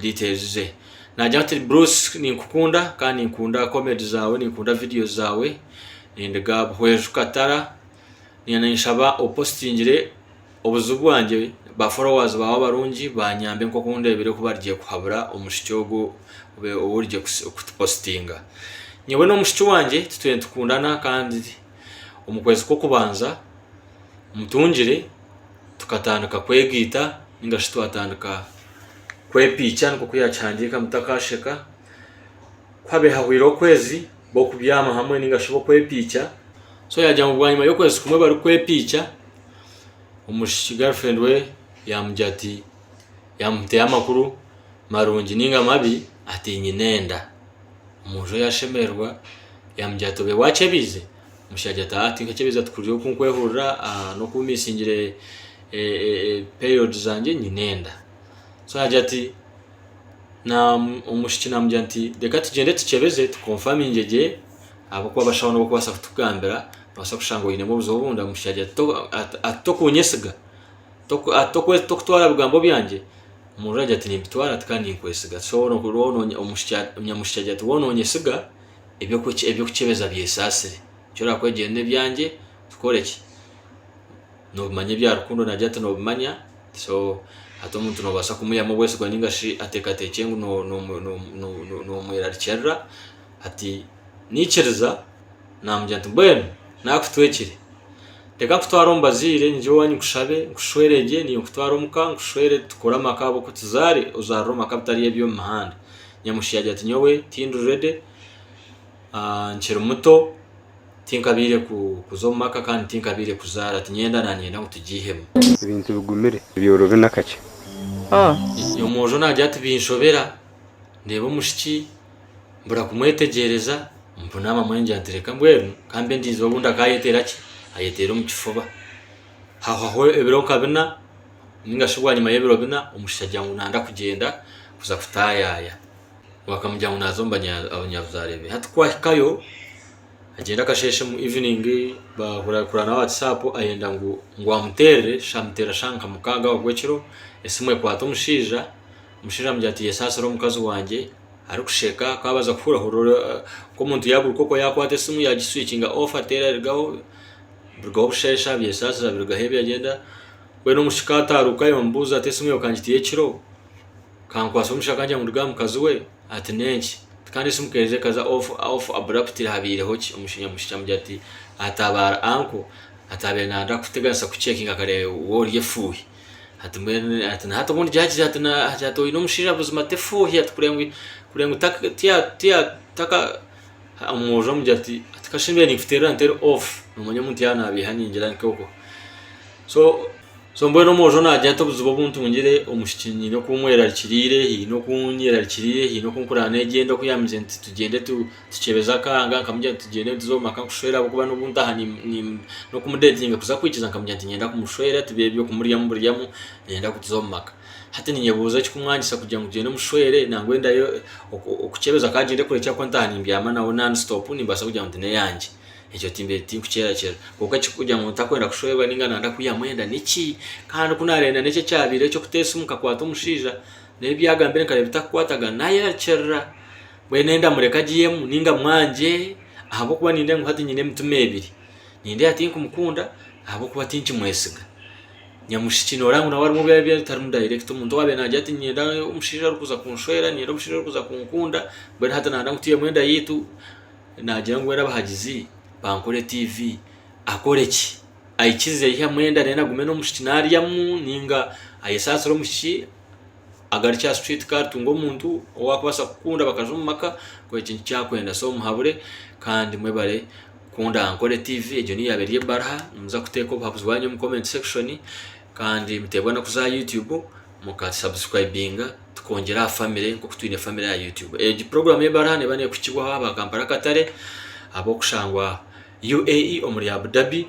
details ze nagya ati Bruce ninkukunda kandi ninkunda comedy zawe ninkunda videos zawe and ga buhweju katara niina ninshaba opostingire obuzibu bwangye ba followers bawe abarungi banyambe nkoku ndebire ku barigye kuhabura omushiki ogu origye kutupostinga nyowe n'omushiki wangye titwe nitukundana kandi omu kwezi kw'okubanza mutungire tukatandika kwegaita ninga shi twatandika kwepiikya nikwo ku yaakihandiika ngu Mutakaasheka. Ku haabaire hahwire okwezi b'okubyama hamwe ninga shi b'okwepiikya. So yaagira ngu bwanyima y'okwezi kumwe barikwepiikya, omwishiki girlfriend we yaamugira ati, yaamuteera amakuru marungi ninga mabi ati nyine enda. Omwojo yaashemererwa yaamugira ati obaire waakyebeize? Omushaija ati, Ahaa, tinkakyebeeza ti kuryo oku nkwehurira aha n'oku misingire periods zangye, nyine enda. So yaagira ati, na omwishiki naamugira nti, reka tugyende tukyebeze tukonfaminge gye ahabw'okuba abashaho nibo barikubaasa kutugambira, noobaasa kushanga oinemu obuzibu obundi. Omushaija agira ati, to ati tokunyesiga, toku ati toku tokutwara bigambo byangye. Omurundi agira ati, nimbitwara ati kandi ninkwesiga. So woona oku woona omushikia nyamushiki agira ati, woona onyesiga? eby'okukyebeza byesaasire. Eki oraabe kwegyere n'ebyangye, tukore ki? Noobimanya ebya rukundo nagira ati noobimanya, so hati omuntu noobaasa kumuyihamu obwesigwa nainga shi ateekateekye ngu noomwerarikirira. Hati naikiriza naamugira nti, mbwenu naakutwekire, reka nkutware omu bazaire nyije owaanyu nkushabe, nkushwere gye, niiwe nkutware omuka nkushwere tukore amaka ahabw'okugira ozaarire omu maka agatari ag'omu mihanda. Nyamushi agira ati Nyowe tindi ready, nkiri muto, tinkabaire kuza omu maka kandi tinkabaire kuzaara, tinyenda nanyenda ngu tugiihemu. Ebintu bigumire byorobi nakakye. Omwojo nagira ati Binshobera, ndeeba omushiki, mbura kumwetegyereza, mpuna amamwe ngira nti reka mbwenu kambe ndinzire obundi akayeteera ki? Ayeteera omu kifuba. Hahwaho ebiro nka bina. Ninga shi bwanyima y'ebiro bina omushija agira ngu nanda kugyenda kuza kutayaya we akamugira ngu naza omu banyabuzare be hati kwahikayo agyenda akasheshe mu evening bahurira kurana aha WhatsApp ayenda ngu amuterere shi amutera shaha nka mukaga aho gwekiro esimu ekwata omushija omushija amugira ati yes asire omukazi wangye arikusheka ku abaza kuhurira hurira nk'omuntu ya buruka okwo yakwata esimu ya gi switchinga off atera arugaho bushesha abyesasira abirugaho ebyagyenda. Mbwenu omushika ataaruka yoomubuuza ati, Esimu yaawe kangiteyo ekiro? Kankwatsa omushika kangira ngu nduge aha mukazi we? Ati, N'enki? Ati, Kandi esimu k'eija ekaza off, off abruptly, haabaireho ki? Omushija amushukya amugira ati, Ataabaara uncle. Ati, Abaire naarenda kukuteganisa kucekinga akareeba waaba ori efuuhi. Ati, Mbwenu ati, na hati obundi gyahikire ati, na hati oine omushija buzima ta efuuhi? Ati, Kureba ngu kureba ngu ta, ta, ta, ta, taka, Omwojo amugira ati kashembe ninkuterera ntere off nomanya omuntu yaba nabiiha ningira nkoko so mbwenu omwojo nagira ati obuzibu obuntungire omwishiki nyine oku mwerarikiriire haine oku nyerarikiriire haine oku nkuraba negyenda oku yangire nti tugyende tukyebeze akahanga nkamugira nti tugyende nituza omu maka nkushwere ahabw'okuba n'obu ntaha n'okumudetinga kuza kwikiza nkamugira nti niinyenda kumushwera tibibe by'okumuryamu buryamu niinyenda kutuza omu maka. Hati ninyebuuza ekikumwanyisa kugira ngu tugyende mushwere nangwa endayo okukyebeza ka agyende kure kyakuba ntaha nimbyama nawe non stop nimbaasa kugira ngu tineyangye ekyo timbiire tinkukyerakira kwonka ekikugira ngu ntakwenda kushwerwa ninga nanda kwihamu enda niki kandi kunarenda nekyo ekyabaire ekyokuta esimu nkakwata omushaija naye ebyagambire nkareeba bitakukwatagana nayeyakirira mbwenu enda mureke agyemu ninga mwangye ahabwokuba nindeeba ngu hati nyine emitima ebiri nindeeba tinkumukunda ahabwokuba tinkimwesiga. Nyamushiki noreeba ngu nawe harimu ebi arikureeba bitarimu direct, omuntu owaabaire naagira ati niinyenda omushaija orikuza kunshwera, niinyenda omushaija orikuza kunkunda, mbwenu hati naayenda ngu twihemu enda yaitu, naagira ngu mbwenu abahagizi bankore tiivi, akore ki? Aikirize aihemu enda then agume n'omwishiki naaryamu nainga ayesaasire omwishiki agarukye aha street car atunge omuntu ou arikubaasa kukunda bakaza omu maka, kureeba eki nikyo arikwenda so muhabure kandi mwebare. Ku ndankore tiivi egyo niyo yaaba eri ebaraha nimuza kuteeka obuhabuzi bwanyu omu comment section kandi muteebwa n'okuza aha YouTube muka subscribinga tukongyera aha family nk'oku twine family aha YouTube. Egi program y'ebaraha neeba neekuhikibwaho aba Kampala Katare ab'okushangwa UAE omuri Abu Dhabi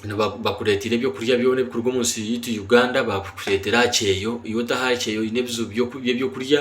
niba- bakureeteire ebyokurya byona ebikuruga omu nsi yaitu Uganda baabikureetera aha kyeeyo. Iwe otaha aha kyeeyo oine ebizibu by'oku- by'ebyokurya